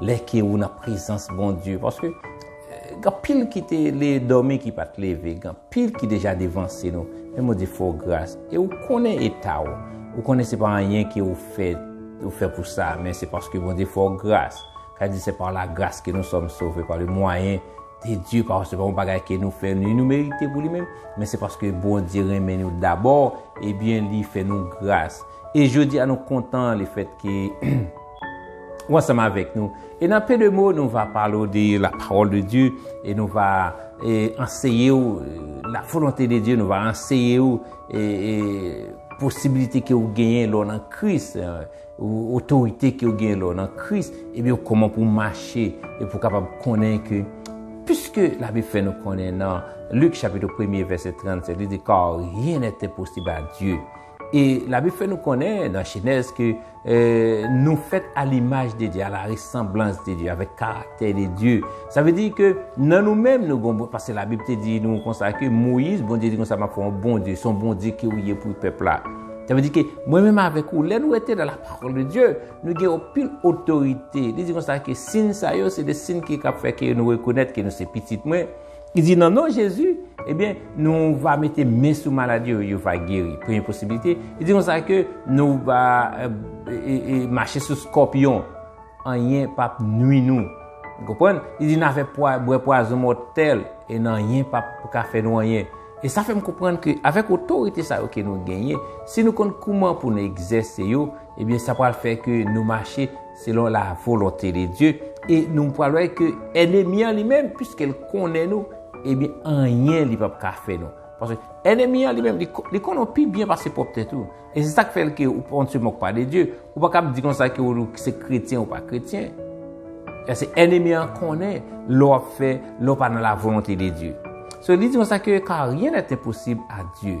Lè ke ou nan prezans Bondye. Paske, gan pil ki te le domi ki pat leve. Gan pil ki deja devanse nou. Men Bondye fè ou gras. E ou konnen eta ou. Ou konnen se pa anyen ke ou fè. Ou fè pou sa. Men se paske Bondye fè ou gras. Ka di se pa la gras ke nou som sove. Pa le mwayen de Dieu. Pa ou se pa ou bagay ke nou fè. Ni nou merite pou li men. Men se paske Bondye renmen nou dabor. Ebyen li fè nou gras. E jodi a nou kontan le fèt ke. ou ansanm avèk nou e nan peu de mots nou va parle ou de la parole de Dieu e nou va anseye ou la volonté de Dieu nou va anseye ou posibilite ke ou genyen lè ou nan Kris otorite ke ou genyen lè ou nan Kris ebyen ou kòman pou mache e pou kapab konnen ke pwiske la Bib fè nou konnen nan Luc chapitre 1er verset 37 li di car rien n'est impossible à Dieu E labib fè nou konnen nan jenèz ke nou fèt a limaj de Dye, a la resanblans de Dye, avèk karaktè de Dye. Sa vle di ke nan nou menm nou gon, paske labib te di nou konsa ke Moyiz, Bondye di konsa m ap fè w yon Bondye, se yon Bondye ke ou ye pou pèp la. Sa vle di ke mwen menm avèk ou, lè nou rete nan lapawòl de Dye, nou gen yon pil otorite. Li di konsa ke sin sa yo se de sin ki kab fè ke nou rekonèt ke nou se pitit mwen. Li di nan non Jezi, ebyen, nou va mete men sou malad yo, yo va geri. Premye posibilite. Li di konsa ke nou va mache sou skòpyon, anyen pap nwi nou. Ou konprann? Li di nan fè bwè pwazon mòtèl, e nan anyen pap ka fè nou anyen. E sa fè m konprann ke avèk otorite sa yo ke nou genyen, si nou konn kouman pou nou egzèse yo, ebyen sa pral fè ke nou mache. Selon la volonte de Dye, e nou pral wè ke enemi an li menm, piske l konnen nou, ebyen anyen li pap ka fè nou. Paske enemi an li menm, li konnen w pi byen pase pwòp tèt ou. E se sak fè l ke ou pa on se mòk pa de Dye. Ou pa kab di konsa ke ou se kretyen ou pa kretyen. Paske enemi an konnen lè w ap fè, lè w pa nan la volonte de Dye. So li di konsa ke, kar rien n'est impossible à Dieu.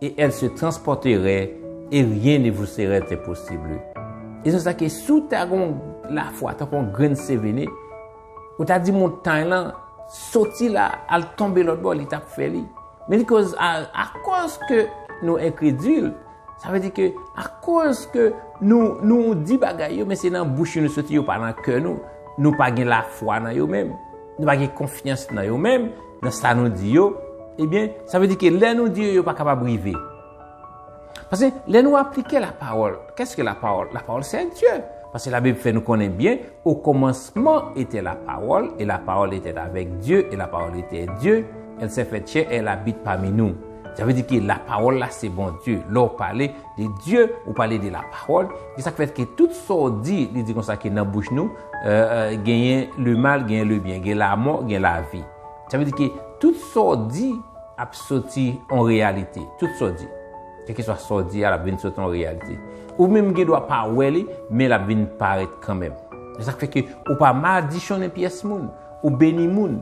Et elle se transporterait et rien ne vous serait impossible. E se sa ke si w ta gon lafwa tankou yon grenn sevene, ou ta di montay lan, soti la, al tonbe lòt bò, li t ap fè li. Men li koz a, akoz ke nou enkredil, sa vle di ke akoz ke nou, nou di bagay yo, men se nan bouch nou yo soti, yo pa nan kè nou, nou pa gen lafwa nan yo menm, nou pa gen konfyans nan yo menm, Nan sa nou di yo, ebyen, sa vle di ke lè nou di yo, yo pa kapab rive. Pase, lè nou aplike la pawòl, kès ke la pawòl? La pawòl se ak Dye. Pase la Bib fè nou konnen byen, o kòmansman etè la pawòl, e la pawòl etè avèk Dye, e la pawòl etè Dye, el sè fèt chè, el abit pami nou. Sa vle di ke la pawòl la se Bondye. Lè ou pale de Dye, ou pale de la pawòl, e sa k fè ke tout sa ou di, li di konsa ke nan bouch nou, Genyen le mal, genyen le byen. Gen la mò, gen la vi. Sa vle di ke tout sa w di ap soti an reyalite. Tout sa w di. Kèlke swa sa w di a, l ap vin soti an reyalite. Ou menm gen dwa pa wè li, men l ap vin parèt kanmenm. Se sa k fè ke ou pa madichonnen pyès moun. Ou beni moun.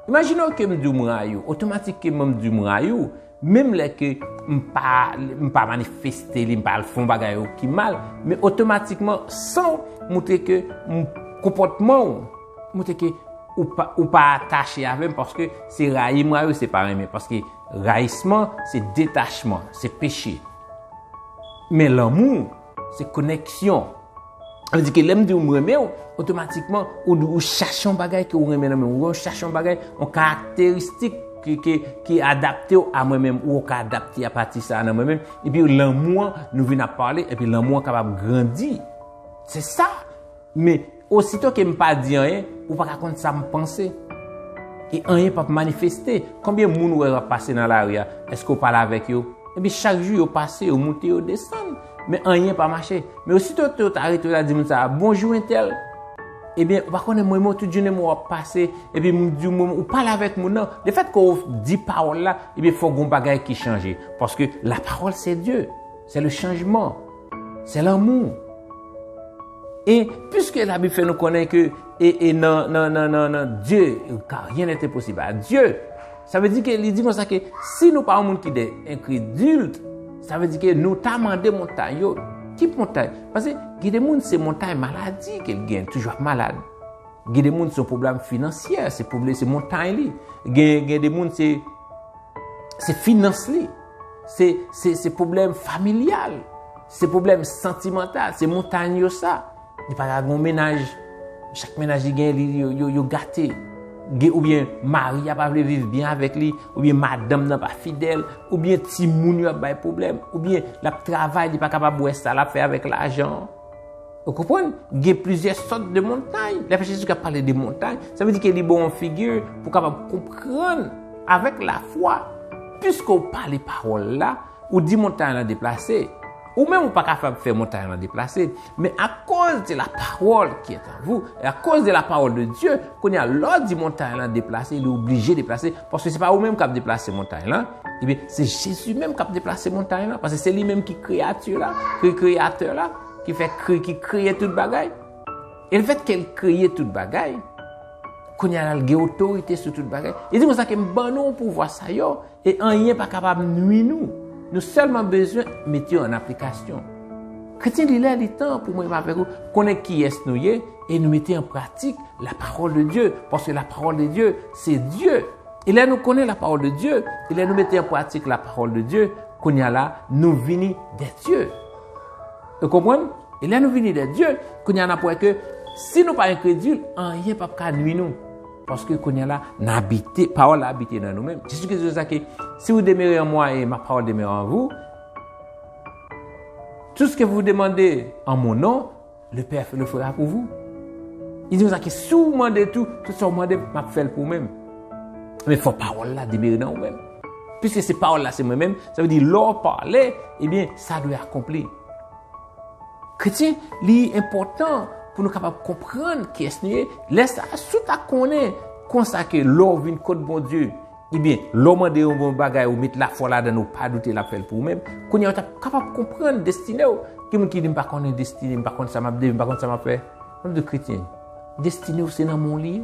Imajine w ke m di w m rayi w. Otomatikman m di w m rayi w. Menm lè ke m pa, m pa manifeste li, m pa al fè yon bagay ou ki mal, men otomatikman san w moutre ke m, konpòtman w moutre ke ou pa, ou pa atache avè m paske se rayi m rayi w se pa renmen paske rayisman se detachman, se peche. Men lanmou. Se koneksyon. Sa vle di ke lè m di w m renmen w, otomatikman ou di ou chache yon bagay ke ou renmen nan men m. Ou wè ou chache yon bagay, yon karakteristik ki adapte w a mwen menm. Ou ka adapte a pati sa nan mwen menm. Epi lanmou an, nou vin ap pale, epi lanmou an kapab grandi. Se sa! Men, osito ke m pa di anyen, ou pa ka konn sa m panse. E anyen p ap manifeste. Konbyen moun ou wè yo ap pase nan lari a? Èske ou pale avèk yo? Enpi chak jou yo pase, yo moute, yo desann. Men anyen pa mache. Men osito ke ou ta rete, ou ta di moun sa a, Bonjou entèl. Ebyen, ou pa konnen mwen menm ou tout jounen mwen w ap pase, epi m di w mwen menm, ou pale avèk moun nan. Lefèt ke ou di pawòl la, ebyen fòk gen yon bagay ki chanje. Paske lapawòl se Dye. Se le chanjman. Se lanmou. E pwiske la Bib fè nou konnen ke e nan nan nan nan nan Dye ka ryen nè te posib a Dye. Sa vle di ke li di konsa ke si nou pa yon moun ki de enkredil, sa vle di ke nou ta mande montay yo. Ki montay? Pase gen de moun se montay maladi ke l gen, toujou ap malad. Gen de moun se yon pwoblèm finansyè, se pwoblèm se montay li. Gen gen de moun se se finans li. Se pwoblèm familyal, se pwoblèm santimantal, se montagne yo sa. Li pa ka gen yon menaj, chak menaj li gen yo gate. Ou byen mari a pa vle viv byen avèk li, ou byen madanm nan pa fidèl, ou byen ti moun yo ap bay pwoblèm, ou byen l ap travay li pa kapab wè sa l ap fè avèk lajan. Ou konprann? Gen plizyè sòt de montay. Lè Jezi Kris ap pale de montay, sa vle di ke li ba w yon figi pou w kapab konprann avèk lafwa. Piske ou pale pawòl la, ou di montay lan deplase. Ou menm ou pa kapab fè montay lan deplase, men akoz de la parole qui est en vous, e akoz de la parole de Dieu, kounye a lè w di montay lan deplase, li oblije deplase, paske se pa ou menm k ap deplase montay lan, ebyen se Jezi menm k ap deplase montay lan, paske se li menm ki kreyati la, ki kreyatè la. Ki fè kre, ki kreye tout bagay. E lefèt ke li kreye tout bagay, kounye a la li gen otorite sou tout bagay. Li di konsa ke m ban nou pouvwa sa yo, e anyen pa kapab nwi nou. Nou sèlman bezwen mete yo an aplikasyon. Kretyen, li lè, li tan pou mwen avèk ou konnen kiyès nou ye, e nou mete an pratik la pawòl de Dye, paske la pawòl de Dye se Dye. E lè nou konnen la pawòl de Dye, e lè nou mete an pratik la pawòl de Dye, kounye a la nou vini dè dye. Nou konprann? E lè nou vini dè Dye, kounye a n ap wè ke si nou pa enkredil, anyen pap ka nwi nou. Paske kounye a la, n abite, pawòl la abite nan nou menm. Jezi Kris di konsa ke, si ou demere an mwa e ma pawòl demere an vou, tou ske vou demande an mon non, Le pè le fera pou vou. Li di konsa ke si ou mande tou, tout sa ou mande m, m ap fè l pou menm. Men fò pawòl la demere nan ou menm. Piske se pawòl la se mwen menm, sa vle di lè ou pale, ebyen sa dwe akonpli. Kretyen, li enpòtan pou nou kapab konprann kiyès nou ye. Lè sa a, si w ta konnen konsa ke lè ou vin kot Bondye, Ebyen, lè w mande yon bon bagay, ou met lafwa ladan l, ou pa doute l ap fè l pou ou menm, kounye a w t ap kapab konprann destine w. Gen moun ki di, m pa konnen destine m, m pa konn sa m ap devni, m pa konn sa m ap fè. M ap di w, kretyen, destine w se nan men w li ye.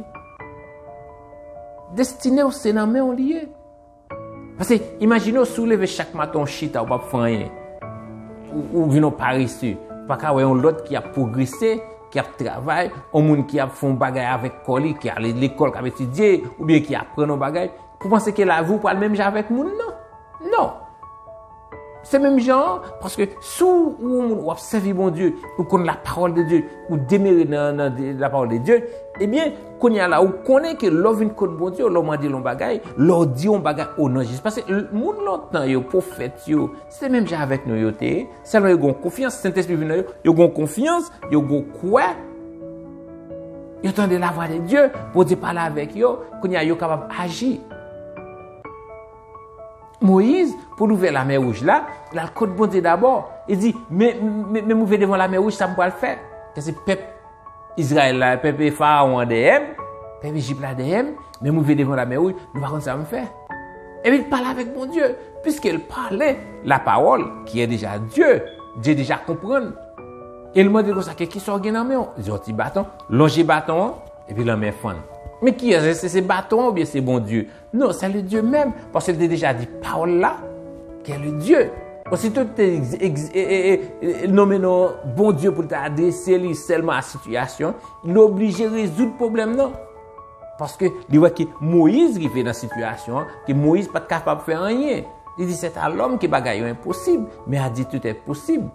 Destine w se nan men w li ye. Pase, imajine w si w leve chak maten w chita, ou p ap fè anyen. Ou vin yon parese. Ou pa ka wè yon lòt ki ap pwogrese, ki ap travay, yon moun ki ap fè yon bagay avèk kò li, ki ale lekòl, k ap etidye, oubyen ki aprann yon bagay, pou panse ke lavi ou pral menm jan avèk moun nan. Non! Se menm jan an, paske si w yon moun w ap sèvi Bondye, ou konn lapawòl de Dye, ou demere nan lapawòl de Dye, ebyen, kounye a la ou konnen ke lè w vin kot Bondye, lè w mande l yon bagay, lè w di yon bagay o non Jezi. Paske moun lontan yo, pwofèt yo, se menm jan avèk nou yo te ye. Sèlman yo gen konfyans, Sentespri vin nan yo, yo gen konfyans, yo gen kwè, yo tande lavwa de Dye, Bondye pale avèk yo, kounye a yo kapab aji. Moyiz, pou l ouvè lamè wouj la, l al kot Bondye dabò, li di, Men m ouvè devan w lamè wouj, sa m pral fè? Sa se pèp. Izrayèl la, pèp e Farawon an dèyè m, pèp Ejip la dèyè m, men m rive devan Lamè Wouj, nou pa konn sa m fè. Epi l pale avèk Bondye. Piske l pale lapawòl, ki e deja Dye, Dye deja konprann. E l mande l konsa, ke kisa w gen nan men w? Li di, yon ti baton. Lonje baton an, epi lanmè fann. Men kiyès, èske se baton an oubyen se Bondye? Non, sè le Dye menm, paske l te deja di pawòl la, kè le Dye. Ositou l te nonmen non Bondye pou l ta adrese li sèlman a sitiyasyon, li oblije rezoud pwoblèm nan. Paske li wè ke Moyiz rive nan sitiyasyon an, ke Moyiz pa t kapab fè anyen. Li di, sèt a lòm ke bagay yo enposib, men a Dye tout èt posib.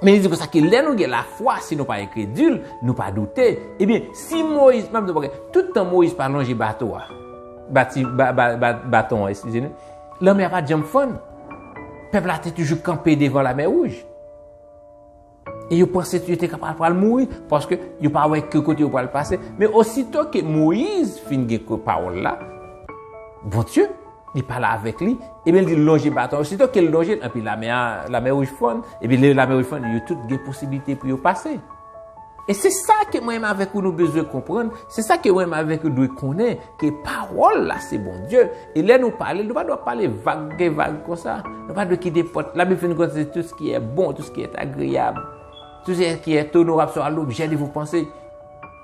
Men li di konsa ke lè nou gen lafwa, si nou pa enkredil, nou pa doute, ebyen, si Moyiz, map di yon bagay, tout tan Moyiz pa lonje bato a, bati, ba, ba, ba, baton an, eskize nou, lanmè a pat janm fann. Pèp la te toujou kanpe devan lamè wouj. E yo panse yo te kapab pral mouri, paske yo pa wè ke kote yo pral pase. Men osito ke Moyiz fin gen ke pawòl la, Bondye, Li pale avèk li, epi li lonje baton. Osito ke li lonje l, epi lamè a, lamè wouj fonn, epi lè lamè wouj fonn, yo tout gen posiblite pou yo pase. E se sa ke mwen menm avèk ou nou bezwen konprann, se sa ke mwen menm avèk ou dwe konnen, ke pawòl la se Bondye, e lè nou pale l, nou pa dwe ap pale vag gen vag konsa. Nou pa dwe kite pòt, la Bib fè nou konnen se tout se ki è bon, tout se ki è agreyab, tout se ki è onorab swa lobjè de vos pensées.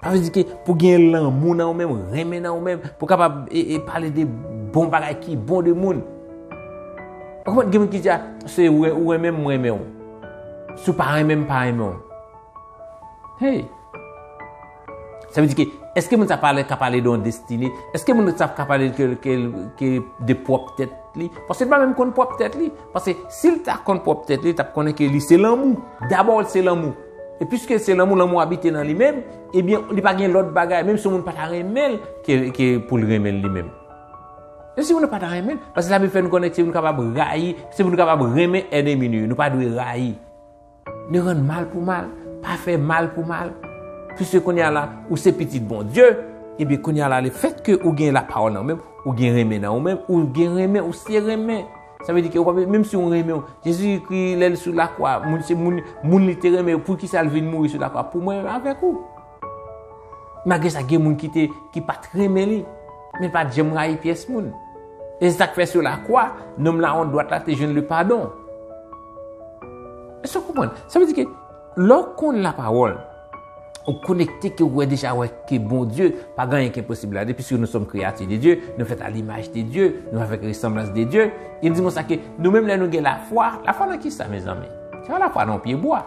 Sa vle di ke pou gen lanmou nan ou menm, renmen nan ou menm, pou kapab e pale de bon bagay ki bon de moun. Ou konprann gen moun ki di a, se ou renmen m, m renmen ou. Si ou pa renmen m, m pa renmen ou. Hey! Sa vle di ke, eske moun sa pale ka pale de yon destine? Eske moun sa ka pale ke de pwòp tèt li? Paske l pa menm konn pwòp tèt li. Paske si l ta konn pwòp tèt li, l t ap konnen ke li se lanmou. Dabò l se lanmou. E piske se lanmou, lanmou abite nan li menm, ebyen li pa gen lòt bagay, menm si yon moun pa ta renmen l, ke pou l renmen l li menm. Menm si yon moun nan pa ta renmen l, paske Labib fè nou konnen ke nou kapab rayi, se pou nou kapab renmen ènemi nou yo, nou pa dwe rayi. Ne rann mal pou mal, pa fè mal pou mal. Piske kounye a la, ou se pitit Bondye, ebyen kounye a la, lefètke ou gen lapawòl nan ou menm, ou gen renmen nan ou menm, ou gen renmen, ou se renmen. Sa vle di ke ou pa bezwen, menm si ou renmen yo, Jezi kri lè l sou lakwa, moun se moun, moun li te renmen yo, pou ki sa l vin mouri sou lakwa? Pou mwen menm avèk ou. Malgre sa gen moun ki te, ki pa t renmen li, men l pa t janm rayi pyès moun. E se sa k fè sou lakwa, nonm lawont dwat la te jwenn lepadon. Èske ou konprann? Sa vle di ke. Lè w konn la pawòl, ou konekte ke ou wè deja wè ke Bondye pa gen anyen ki enposib la de piske nou sòm kreyati de Dye, nou fèt a limaj de Dye, nou avèk resanblans de Dye. Li di konsa ke nou menm lè nou gen lafwa, lafwa nan kisa mezanmi? Se pa lafwa nan yon pye bwa.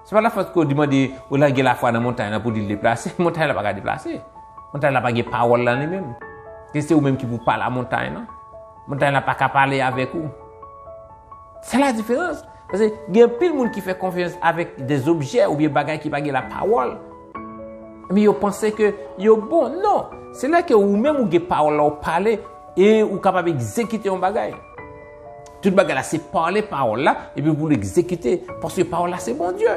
Se pa lafwa ke ou di mande ou la gen lafwa nan montay la pou di l deplase, montay la pa ka deplase. Montay la pa gen pawòl la li menm. Ke se ou menm ki pou pale a montay la. Montay la pa ka pale avèk ou. Sa la diferans. Paske gen anpil moun ki fè konfyans avèk des objè oubyen bagay ki pa gen la pawòl. Epi yo panse ke yo bon. Non! Se lè ke ou menm ou gen pawòl la ou pale e ou kapab egzekite yon bagay. Tout bagay la se pale pawòl la epi pou l egzekite. Paske pawòl la se Bondye.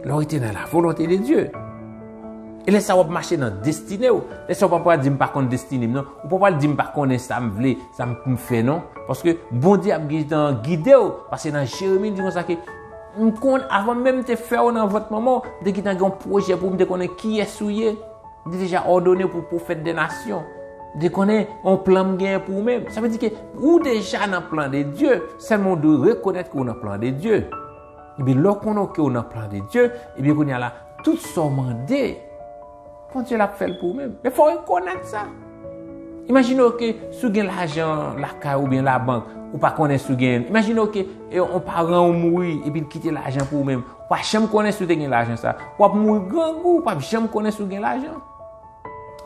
Lè ou rete nan la volonte de Dye. E lè sa w ap mache nan destine ou. Lè sa ou pa pral di m pa konn destine m non. Ou pa pral di m pa konnen sa m vle. Sa m pou m fè non. Paske Bondye ap gentan gide w. Pase nan Jeremi li di konsa ke m konn avan menm m te fè w nan vant manman w, m te gentan gen yon pwojè pou ou, m te konnen kiyès ou ye. M te deja òdone w pou pwofèt de nasyon. M te konnen yon plan m genyen pou ou menm. Sa vle di ke ou deja nan plan de Dye. Sèlman ou dwe rekonèt ke ou nan plan de Dye. Ebyen lè w konnen w ke w nan plan de Dye, ebyen kounye a la, tout sa w mande Bondye l ap fè l pou ou menm. Men fò w rekonèt sa. Imajine w ke si w gen lajan lakay ou oubyen labank, ou pa konnen si w genyen l. Imajine w ke yon paran w mouri epi l kite lajan pou ou menm. Ou pa janm konnen si w te gen lajan sa. W ap mouri grangou, ou pa p janm konnen si w gen lajan.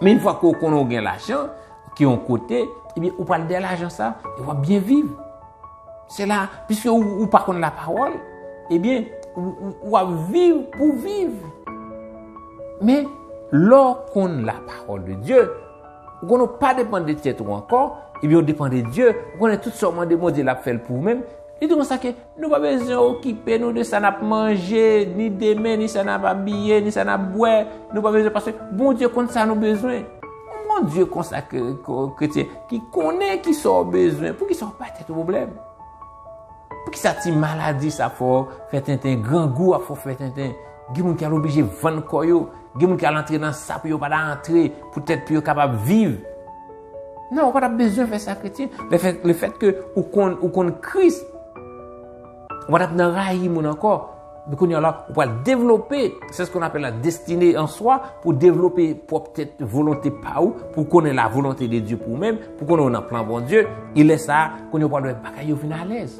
Men yon fwa ke w konnen w gen lajan, ke yon kote, ebyen ou pral dèyè lajan sa, e w ap byen viv. Se la, piske ou pa konn lapawòl, ebyen, ou ap viv pou viv. Men, lè ou konn lapawòl de Dye, ou konn ou pa depann de tèt ou ankò, ebyen ou depann de Dye, ou konnen tout sa ou mande Bondye l ap fè l pou ou menm. Li di konsa ke nou pa bezwen okipe nou de sa n ap manje, ni demen, ni sa n ap abiye, ni sa n ap bwè, nou pa bezwen paske Bondye konn sa nou bezwen. Yon bon Dye konsa kretyen ki konnen ki sa w bezwen, pou ki sa w bay tèt ou pwoblèm? Pou ki sa ti maladi sa ap fè w fè tenten, grangou ap fè w fè tenten, gen moun ki al oblije vann kò yo, gen moun ki al antre nan sa pou yo pa ta antre, poutèt pou yo kapab viv? Non, ou pa ta bezwen fè sa kretyen. Lefètke ou konn Kris, ou pa ta nan rayi moun ankò. Epi kounye a la, ou pral devlope, se sak apèl la destine an swa, pou devlope pwòp tèt volonte pa ou, pou konnen la volonte de Dye pou ou menm, pou konnen ou nan plan Bon Dye, e lè sa, kounye ou pral wè bagay yo vin alèz.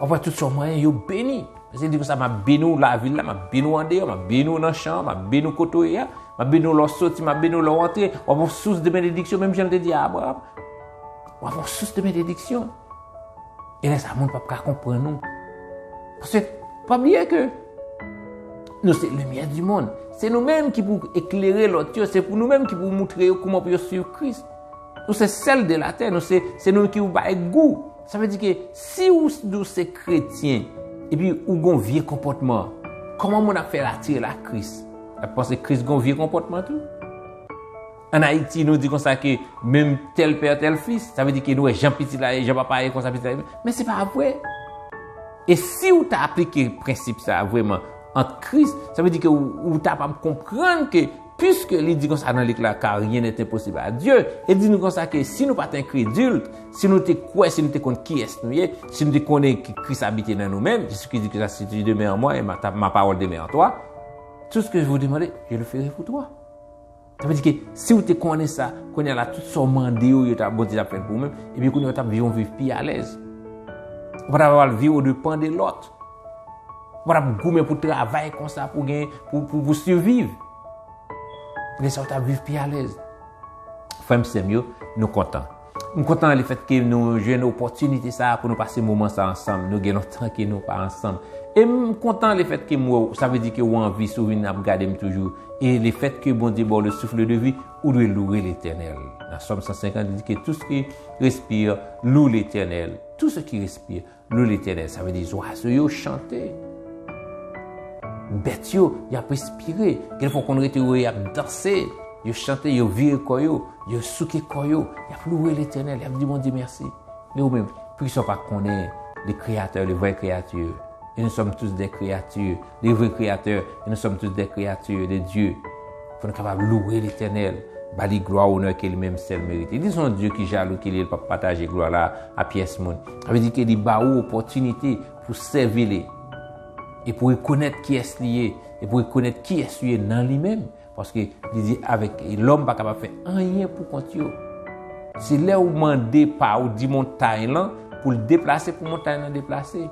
Wap wè tout sa w manyen yo beni. Paske li di konsa, map beni ou la vil la, map beni ou andeyò, map beni ou nan chan an, map beni ou kote ou ye a, map beni ou lè w soti, map beni ou lè w antre, wap wè yon sous de benediksyon, menm jan li te di a Abraram. Wap wè yon sous de benediksyon. Gen lè sa moun pap ka konprann nou. Paske, pa bliye ke nou se limyè di moun. Se nou menm ki pou eklere lòt yo. Se pou nou menm ki pou moutre yo kouman pou yo swiv Kris. Nou se sèl de latè. Nou se, se nou ki pou bay gou. Sa vle di ke si ou di ou se kretyen, epi ou gon vye konpòtman, kòman moun ap fè atire l ak Kris? L ap panse Kris gon vye konpòtman tou? An Ayiti, nou di konsa ke menm tel père tel fils, sa vle di ke nou wè jan pitit la ye, jan papa a ye konsa pitit la ye. Men se pa vre. E si ou ta aplike prensip sa a vreman ant Kris, sa vle di ke ou ta pab konprann ke piske li di konsa nan lik la car rien n'est impossible à Dieu, li di nou konsa ke si nou pa t enkredil, si nou te kwè, si nou te konn kiyès nou ye, si nou te konnen ke Kris abite nan nou menm, Jezi Kris di konsa si tu demeure en moi et ma parole demeure en toi, tout ce que je vous demande, je le ferai pour toi. Sa vle di ke si ou te konnen sa, kounye a la tout sa ou mande yo, yo ta Bondye ta fèl pou ou menm, epi kounye a ou tap viv yon viv pi alèz. Ou pa ta pral viv o depan de lòt. Ou pa tap goumen pou travay konsa pou gen, pou pou siviv. Kounye sa ou tap viv pi alèz. Frèm sèm yo, nou kontan. M kontan le fèt ke nou jwenn opòtinite sa a pou nou pase moman sa a ansanm. Nou gen lontan ke nou pa ansanm. E m kontan le fèt ke m wè w, sa vle di ke ou an vi, si w vin ap gade m toujou. E le fèt ke Bondye ba w le souffle de vie, ou dwe loure Letènèl. Nan Sòm 150, li di ke tout ce qui respire loue Letènèl. Tout ce qui respire. Lou letènèl, sa vle di zwazo yo chante. Bèt yo, y ap respire. Gen fwa w konn rete wè y ap danse. Yo chante, yo vire kò yo, yo souke kò yo. Y ap louwe letènèl, y ap di Bondye mèsi. E ou menm, poukisa w pa konnen le kreyatè, le vrè kreyati? E nou sòm tous dè kreyati, le vrè kreyatè, e nou sòm tous dè kreyati de Dye. Pou nou kapab louwe Letènèl, ba li glwa onè ke li menm sèl merite. Li se yon Dye ki jalou ki li e li pap pataje glwa la a pyès moun. Sa vle di ke li ba ou opòtinite pou sèvi li e pou rekonèt kiyès li ye e pou rekonèt kiyès ou ye nan li menm. Paske li di avèk lòm pa kapab fè anyen pou kont yo. Se lè ou mande pa ou di montay lan pou l deplase pou montay lan deplase.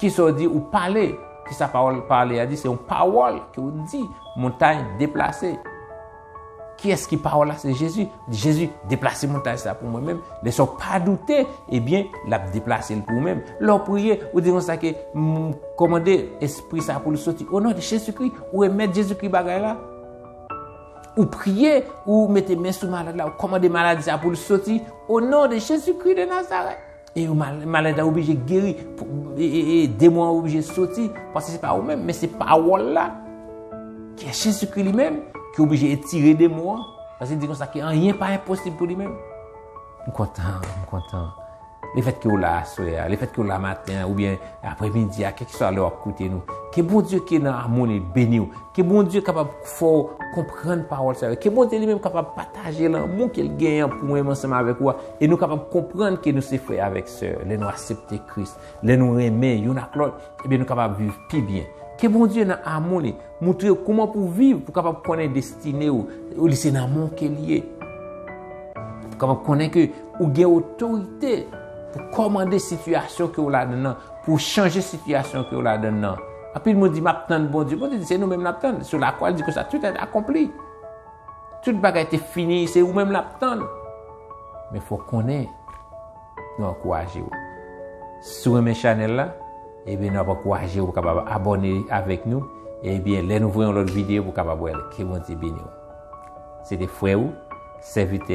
Kisa w di? Ou pale. Kisa pawòl pale a di? Se yon pawòl ke ou di. Montay deplase. Kiyès ki pawòl la? Se Jezi. Jezi, deplase montay sa pou mwen menm. Lè sa w pa doute, ebyen, l ap deplase l pou ou menm. Lè w priye, ou di konsa ke, M kòmande espri sa pou li soti. Onon de Jezikri, ou remèt Jezikri bagay la. Ou priye, ou mete men sou malad la, ou kòmande maladi sa pou li soti. Onon de Jezikri de Nazarèt. E yo maladi a oblije geri, e demon an oblije soti, paske se pa ou menm, men se pawòl la, ki e Jezikri li menm, ki oblije etire demon an, paske di konsa ke anyen pa enposib pou li menm. M kontan, m kontan. Le fèt ke ou la aswè a, le fèt ke ou la maten an, oubyen apre midi a, kèk swa lè wap koute nou, ke Bondye ki nan amoni beni ou, ke Bondye kapab fè ou konprann pawòl sa yo, ke Bondye li menm kapab pataje lanmou ke l genyen pou mwen menm ansanm avèk ou a. E nou kapab konprann ke nou se frè avèk sè lè nou asepte Kris, lè nou renmen youn ak lòt, ebyen nou kapab viv pi byen. Ke Bondye nan amou li, moutre ou kouman pou viv pou kapab konnen destine ou, li se nan men w ke li ye. Pou kapab konnen ke ou gen otorite pou kòmande sitiyasyon ke w ladann nan, pou w chanje sitiyasyon ke w ladann nan. Anpil moun di, m ap tann Bondye. Bondye di, se nou menm l ap tann. Sou lakwa, li di konsa, tout èd akonpli. Tout bagay te fini, se ou menm lap tann. Men fok konnen, nou ankouraje ou. Si ou renmen chanel la, ebyen nou ap ankouraje ou kapab abone avèk nou, ebyen lè nou voye yon lòt videyo pou kapab wèl. Ke Bondye beni ou. Se te frè ou, sèvitè.